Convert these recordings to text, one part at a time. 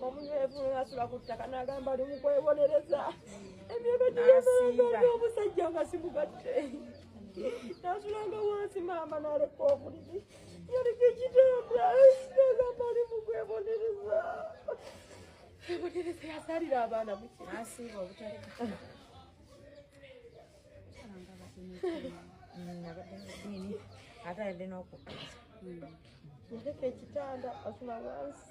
omunywevu asula ku ttaka n'agamba ali mukwewonereza emyaka giyemanga omusajja nga simugatte nasulanga wansi maama naleka obuliri yaliko ekitanda nagamba ali mukwewonereza ebonereza yasalira abaana mukiasiiba obutaleka ate alina okukkiriza Yaleka ekitanda asula wansi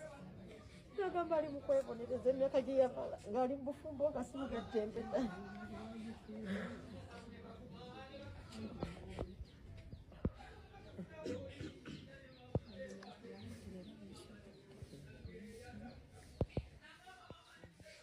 nagamba ali mukwebonereza emyaka gye yamala ng'ali mubufumbo nga simugaddembe ddala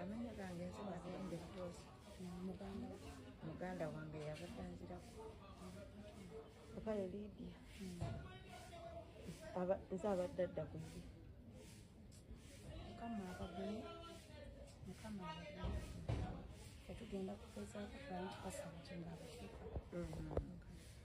amanya gange nsoba agenda ekitoosi muganda wange yabadde anzirako okale lidia nze abadde adda ku ye mukama abagene mukama abagene tetugenda kugezaako kuba nti kasaba kyenga abasika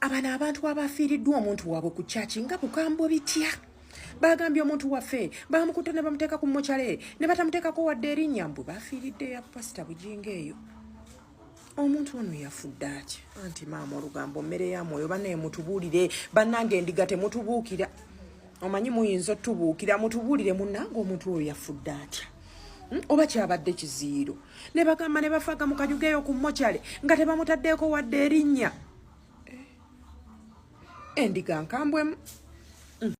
abano abantu abafiiriddwa omuntu waabwe ku kyaki nga bukambwe bitya bagambye omuntu waffe bamukutte ne bamuteeka ku mokyale ne batamuteekako wadde erinnya mbwe bafiiridde ya pasita bujinga eyo omuntu ono yafudde aki anti maama olugambo mmere ya mwoyo banaye mutubuulire bannange endiga temutubuukira omanyi muyinza otubuukira mutubuulire munnange omuntu oyo yafudde atya Hmm? oba kyabadde kiziiro ne bagamba ne bafaga mu kanyugeeyo ku mokyale nga tebamutaddeeko wadde erinnya endiga nkambwemu